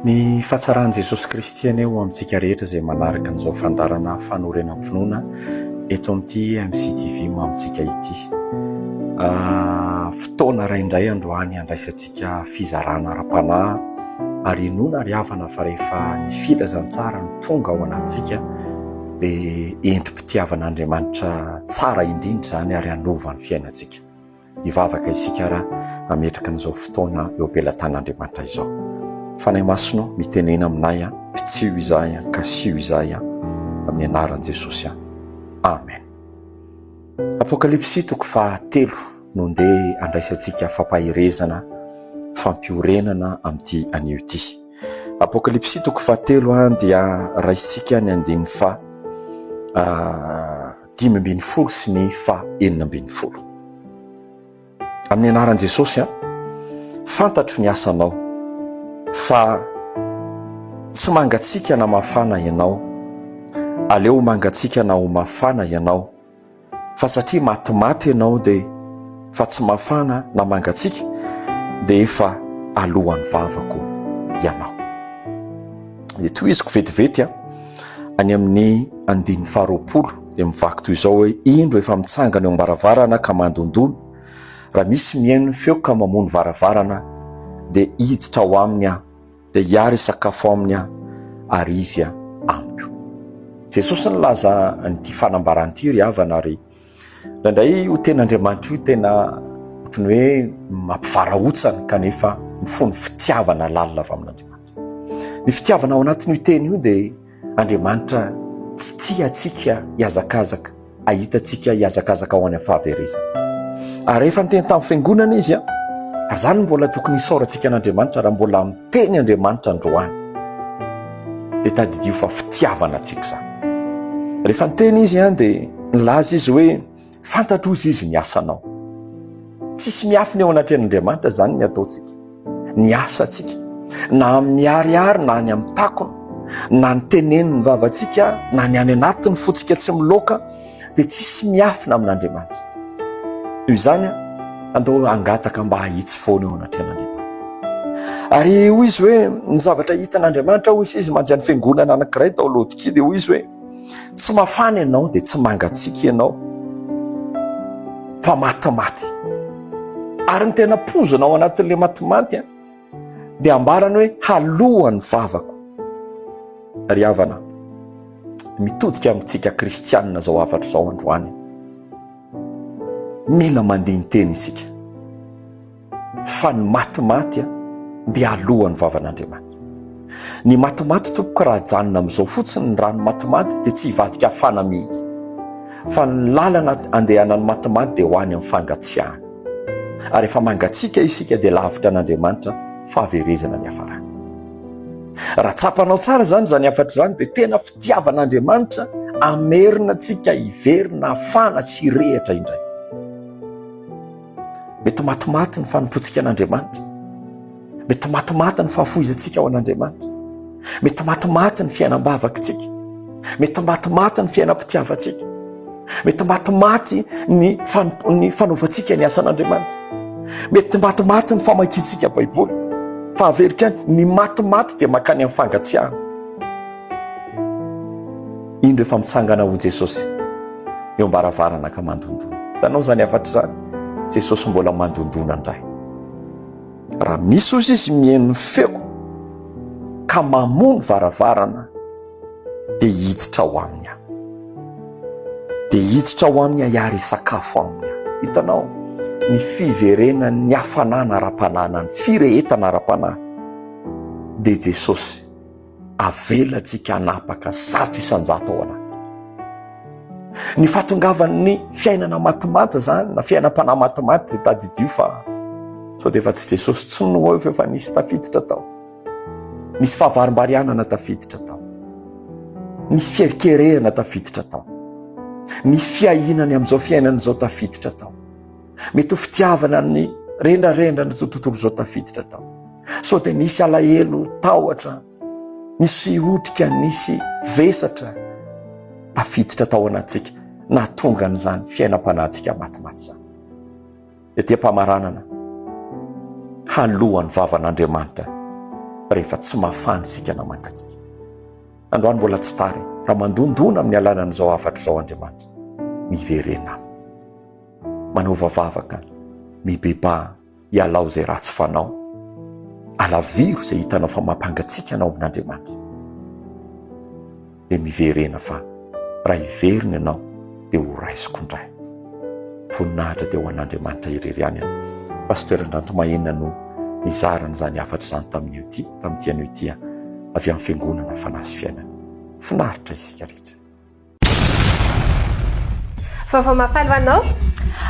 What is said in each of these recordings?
Ny fahatsaran'i Jesosy Kristy anie ho amintsika rehetra izay manaraka an'izao fandaharana fanorenam-pinoana eto amin'ity MCTV mamintsika ity. Fotoana iray indray androany handraisantsika fizarana ara-panahy ary inoana ry havana fa rehefa ny filazantsara no tonga ao anatintsika dia endri-pitiavan'Andriamanitra tsara indrindra izany ary hanova ny fiainantsika. Hivavaka isika raha hametraka an'izao fotoana eo am-pelatan'Andriamanitra izao. Fanahy Masina, mitenena aminay, pitsiho izahay, kasiho izahay, amin'ny anaran'i Jesosy. Amen. Apokalypsy toko fahatelo no ndeha andraisantsika fampaherezana, fampiorenana amin'ity anio ity. Apokalypsy toko fahatelo dia raisika ny andininy fa dimy ambin'ny folo sy ny faha enina ambin'ny folo. Amin'ny anaran'i Jesosy an, fantatro ny asanao fa tsy mangatsika na mafana ianao, aleo mangatsika na ho mafana ianao, fa satria matimaty ianao dia fa tsy mafana na mangatsika dia efa alohan'ny vavako ianao. dia tohiziko vetivety a any amin'ny andininy faharoapolo dia mivaky toy izao hoe indro efa mitsangana eo am-baravarana ka mandondona raha misy mihaino ny feo ka mamono varavarana dia hiditra ao aminy aho dia hiary sakafo aminy aho ary izy a amiko Jesosy ny laza an'ity fanambarana ity ry havana ary Indraindray io tenin'Andriamanitra io tena ohatry ny hoe mampivarahontsana kanefa mifono fitiavana lalina avy amin'Andriamanitra. Ny fitiavana ao anatin'io teny io dia Andriamanitra tsy tia antsika hihazakazaka, hahita antsika hihazakazaka ho any amin'ny fahaverezana. Ary rehefa niteny tamin'ny fiangonana izy, ary izany no mbola tokony hisaorantsika an'Andriamanitra raha mbola teny Andriamanitra androany, dia tadidio fa fitiavana antsika izany. Rehefa niteny izy an, dia nilaza izy hoe fantatro ozy izy ny asanao. Tsisy miafina eo anatrehan'Andriamanitra izany ny ataontsika, ny asantsika, na amin'ny ariary na any amin'ny takona, na ny tenen'ny vavantsika, na ny any anatin'ny fotsika tsy miloaka, dia tsisy miafina amin'Andriamanitra. Toy izany, andao hangataka mba hahitsy foana eo anatrehan'Andriamanitra. Ary hoy izy hoe ny zavatra hitan'Andriamanitra hoy izy manja ny fiangonana anankiray tao Laodikia dia hoy izy hoe tsy mafana ianao dia tsy mangatsiaka ianao fa matimaty. Ary ny tena pozina ao anatin'ilay matimaty dia ambarany hoe haloany vavako ry havana mitodika amintsika kristianina zao hafatra zao androany mila mandiny teny isika fa ny matimaty a dia alohan'ny vavan'andriamanitra ny matimaty tompoko raha janona am'izao fotsiny ny rano matimaty dia tsy hivadika afana mihitsy fa ny lalana andehanan'ny matimaty dia ho any am'fangatsiahana ary rehefa mangatsiaka isika dia lavitra an'Andriamanitra fahaverezana ny hafarana. Raha tsapanao tsara izany izany hafatra izany dia tena fitiavan'Andriamanitra amerina antsika hiverina hafana sy rehatra indray. Mety matimaty ny fanompoantsika an'Andriamanitra. Mety matimaty ny fahafoizantsika ao an'Andriamanitra. Mety matimaty ny fiainam-bavakitsika. Mety matimaty ny fiainam-pitiavantsika. Mety matimaty ny ny fanaovantsika ny asan'Andriamanitra. Mety matimaty ny famakiantsika Baiboly. Fa averiko ihany, ny matimaty dia mankany amin'ny fangatsiahana. Indro efa mitsangana ho Jesosy eo am-baravarana ka mandondona. Hitanao izany hafatra izany? Jesosy mbola mandondona indray. Raha misy ozy izy mihaino ny feo ka mamoa ny varavarana dia hiditra ao aminy aho. Dia hiditra ao aminy aho ary hisakafo aminy aho. Hitanao ny fiverenan'ny hafanana ara-panahy na ny firehetana ara-panahy dia Jesosy. Avelantsika hanapaka zato isan-jato ao anatintsika. Ny fahatongavan'ny fiainana matimaty izany na fiainam-panahy matimaty dia tadidio fa sao dia efa tsy Jesosy intsony no eo fa efa nisy tafiditra tao. Nisy fahavarimbarianana tafiditra tao. Nisy fierikerehana tafiditra tao. Nisy fiahiana ny amin'izao fiainana izao tafiditra tao. Mety ho fitiavana ny rendrarendra ny tontolo izao tafiditra tao. Sao dia nisy alahelo tahotra, nisy otrika, nisy vesatra tafiditra tao anatsika nahatonga an'izany fiainam-panahintsika matimaty izany. Ety am-pamaranana, halohan'ny vavan'Andriamanitra rehefa tsy mafana isika na mangatsika. Androany mbola tsy tara raha mandondona amin'ny alalan'izao hafatra izao Andriamanitra. Miverena. Manaova vavaka, mibebaha, ialao izay ratsy fanao. Alaviro izay hitanao fa mampangatsiaka anao amin'Andriamanitra. Dia miverena fa raha hiverina ianao dia ho raisiko indray. Voninahitra dia ho an'Andriamanitra irery ihany. Pasteur Andranto Mahena no nizara an'izany hafatra izany tamin'io ity, tamin'ity anio ity avy amin'ny fiangonana Fanahy sy Fiainana. Finaritra isika rehetra. Vaovao mahafaly ho anao.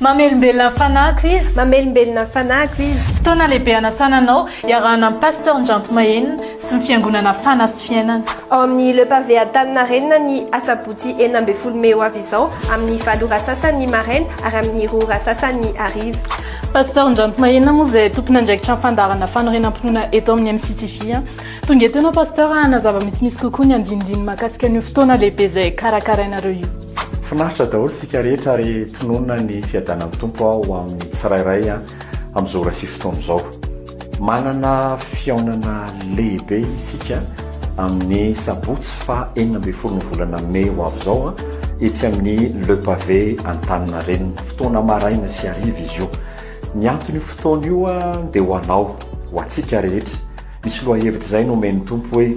Mamelombelona ny fanahiko izy. Mamelombelona ny fanahiko izy. Fotoana lehibe hanasana anao iarahana amin'i Pasteur Ndranto Mahenina sy ny Fiangonana Fana sy Fiainana. Ao amin'ny Le Pavé Antaninarenina ny asabotsy enina ambin'ny folo mey ho avy izao amin'ny valo ora sasany maraina ary amin'ny roa ora sasany hariva. Pasteur Ndranto Mahenina moa izay tompon'andraikitra ny fandaharana fanorenam-pinoana eto amin'ny MCTV. Tonga eto ianao Pasteur hanazava misimisy kokoa ny andinindiny mahakasika an'io fotoana lehibe izay karakarainareo io. Finaritra daholo tsika rehetra ary tononina ny fiadanan'ny Tompo ho amin'ny tsirairay amin'izao ora sy fotoana izao. Manana fihaonana lehibe isika amin'ny sabotsy faha enina ambin'ny folo ny volana mey ho avy izao etsy amin'ny Le Pavé Antaninarenina. Fotoana maraina sy hariva izy io. Ny anton'io fotoana io dia ho anao, ho antsika rehetra. Misy lohahevitra izay nomen'ny Tompo hoe,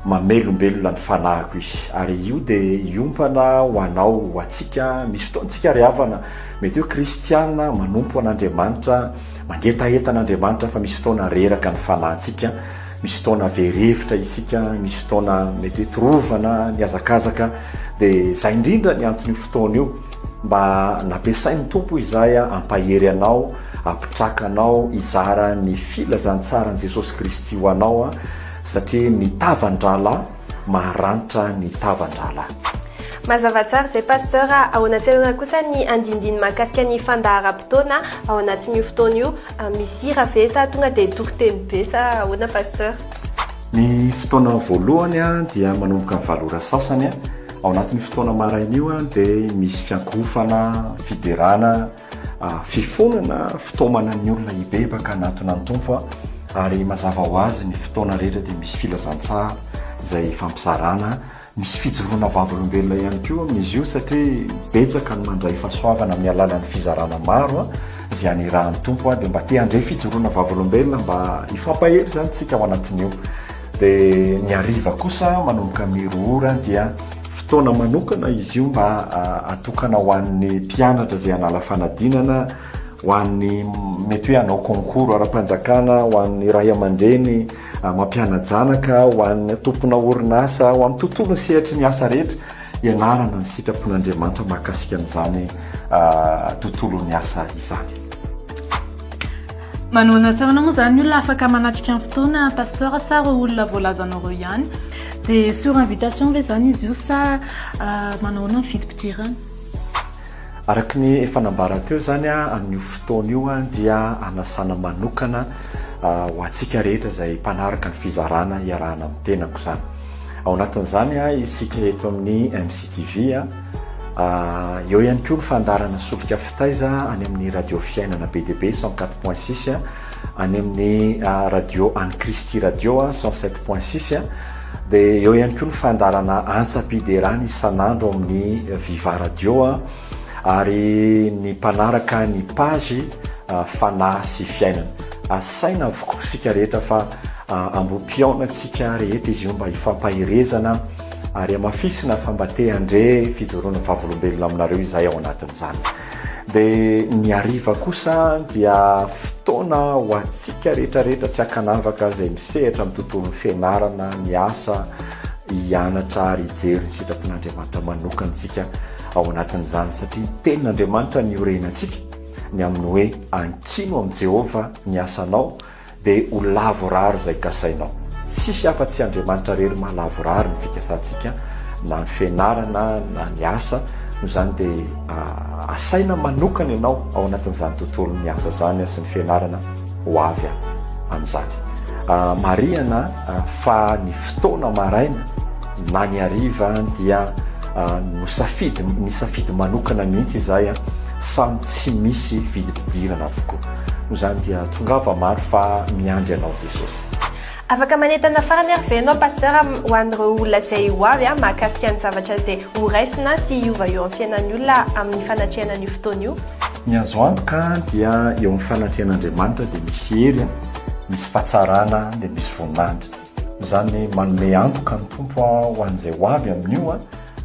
Mamelombelona ny fanahiko izy. Ary io dia hiompana ho anao, ho antsika. Misy fotoantsika ry havana, mety hoe kristiana manompo an'Andriamanitra, mangetaheta an'Andriamanitra fa misy fotoana reraka ny fanahintsika, misy fotoana very hevitra isika, misy fotoana mety hoe torovana, mihazakazaka, dia izay indrindra ny anton'io fotoana io. Mba nampiasain'ny Tompo izahay hampahery anao, hampitraka anao hizara ny filazantsaran'i Jesosy Kristy ho anao, satria ny tavan-drahalahy maharanitra ny tavan-drahalahy. Mazava tsara izay Pasteur a! Ahoana sy ahoana kosa ny andinindiny mahakasika ny fandaharam-potoana ao anatin'io fotoana io? Misy hira ve sa tonga dia toriteny be sa ahoana Pasteur? Ny fotoana voalohany dia manomboka amin'ny valo ora sasany. Ao anatin'io fotoana maraina io dia misy fiankohofana, fiderana, fifonana fitaomana ny olona hibebaka hanatona ny Tompo ary mazava ho azy ny fotoana rehetra dia misy filazantsara izay ifampizarana, misy fijoroana vavolombelona ihany koa amin'izy io satria betsaka ny mandray fahasoavana amin'ny alalan'ny fizarana maro izay anirahan'ny Tompo dia mba te handray fijoroana vavolombelona mba hifampahery izany isika ao anatin'io. Dia ny hariva kosa manomboka mero ora dia. Fotoana manokana izy io mba atokana ho an'ny mpianatra izay hanala fanadinana, ho an'ny mety hoe hanao concours ara-panjakana, ho an'ny ray aman-dreny mampiana-janaka, ho an'ny tompona orinasa, ho amin'ny tontolon'ny sehatry ny asa rehetra, ianarana ny sitrapon'Andriamanitra mahakasika an'izany tontolon'ny asa izany. Manoana asa ahoana moa izany olona afaka manatrika ny fotoana pasteur sa ireo olona voalazanao ireo ihany? Dia sur invitation ve izany izy io sa ah, manao ahoana ny fidim-pidirana? Araka ny efa nambarako teo izany a, amin'io fotoana io a, dia anasana manokana ah, ho antsika rehetra izay mpanaraka ny fizarana iarahana amin'ny tenako izany. Ao anatin'izany a, isika eto amin'ny MCTV a, Eo ihany koa ny fandaharana solika fitaiza any amin'ny radio fiainana be dia be cent quatre point six, any amin'ny radio any Kristy radio cent sept point six, dia eo ihany koa ny fandaharana antsam-piderana isan'andro amin'ny Viva radio ary ny mpanaraka ny page Fanahy sy fiainana. Asaina avokoa isika rehetra fa ambom-pihaonantsika rehetra izy io mba hifampaherezana. ary hamafisina fa mba te handre fijoroana vavolombelona aminareo izahay ao anatin'izany. Dia ny hariva kosa dia fotoana ho antsika rehetra rehetra tsy ankanavaka izay misehatra amin'ny tontolon'ny fianarana, ny asa, hianatra ary hijery ny sitrapon'Andriamanitra manokana antsika ao anatin'izany satria ny tenin'Andriamanitra ny iorenantsika ny amin'ny hoe ankino amin'i Jehovah ny asanao Dia ho lavorary izay kasainao. Tsisy afa tsy Andriamanitra rery maha lavorary ny fikasantsika na ny fianarana na ny asa, noho izany dia asaina manokana ianao ao anatin'izany tontolon'ny asa izany sy ny fianarana ho avy amin'izany. Marihana fa ny fotoana maraina na ny hariva dia nosafidy, nisafidy manokana mihitsy izahay, samy tsy misy vidim-pidirana avokoa. Noho izany dia tongava maro fa miandry anao Jesosy. Afaka manentana farany ary ve ianao Pasteur ho an'ireo olona izay ho avy an, mahakasika ny zavatra izay ho raisina sy hiova eo amin'ny fiainan'ny olona amin'ny fanatrehana an'io fotoana io? Ny azo antoka dia eo amin'ny fanatrehan'Andriamanitra dia misy hery an, misy fahatsarana dia misy voninahitra. Izany manome antoka ny Tompo ho an'izay ho avy amin'io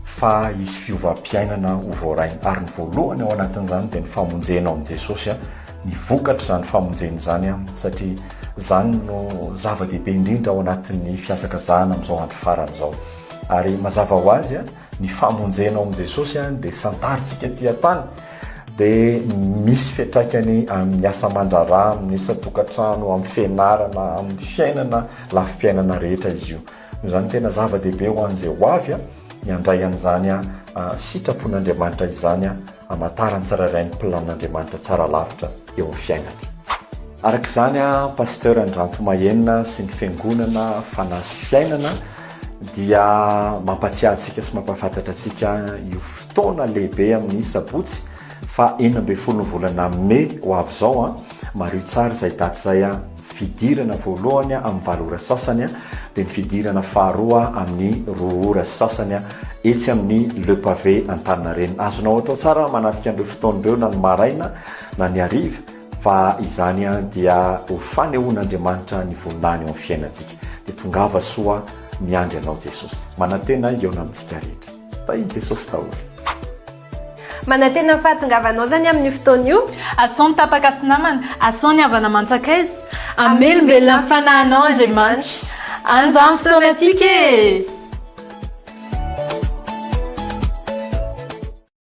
fa hisy fiovam-piainana ho voarainy. Ary ny voalohany ao anatin'izany dia ny famonjena ao amin'i Jesosy, ny vokatr'izany famonjena izany, satria izany no zava-dehibe indrindra ao anatin'ny fihasakazahana amin'izao andro farany izao. Ary mazava ho azy Ny famonjena ao amin'i Jesosy dia santarintsika aty an-tany dia misy fiantraikany amin'ny asa aman-draharaha, amin'ny isan-tokantrano, amin'ny fianarana, amin'ny fiainana, lafim-piainana rehetra izy io. Noho izany tena zava-dehibe ho an'izay ho avy ny handray an'izany sitrapon'Andriamanitra izany hamantaran'ny tsirairay ny planin'Andriamanitra tsara lavitra. eo amin'ny fiainany. Araka izany, Pasteur Andranto Mahenina sy ny Fiangonana Fanahy sy Fiainana dia mampatsiahy antsika sy mampahafantatra antsika io fotoana lehibe amin'ny Sabotsy fa enina ambin'ny folo ny volana Mey ho avy izao. Mariho tsara izay daty izay. fidirana voalohany amin'ny valo ora sasany dia ny fidirana faharoa amin'ny roa ora sy sasany etsy amin'ny Le Pavé Antaninarenina. Azonao atao tsara manatrika an'ireo fotoana ireo na ny maraina na ny hariva fa izany dia ho fanehoan'Andriamanitra ny voninahiny eo amin'ny fiainantsika. Dia tongava soa miandry anao Jesosy. Manantena hihaona amintsika rehetra. Tahin'i Jesosy daholo. Manantena ny fahatongavanao zany amin'io fotoana io. Asao ny tapaka sy namana, asao ny havana aman-tsakaiza. Amelombelona ny fanahinao Andriamanitra. An'izany fotoanantsika e!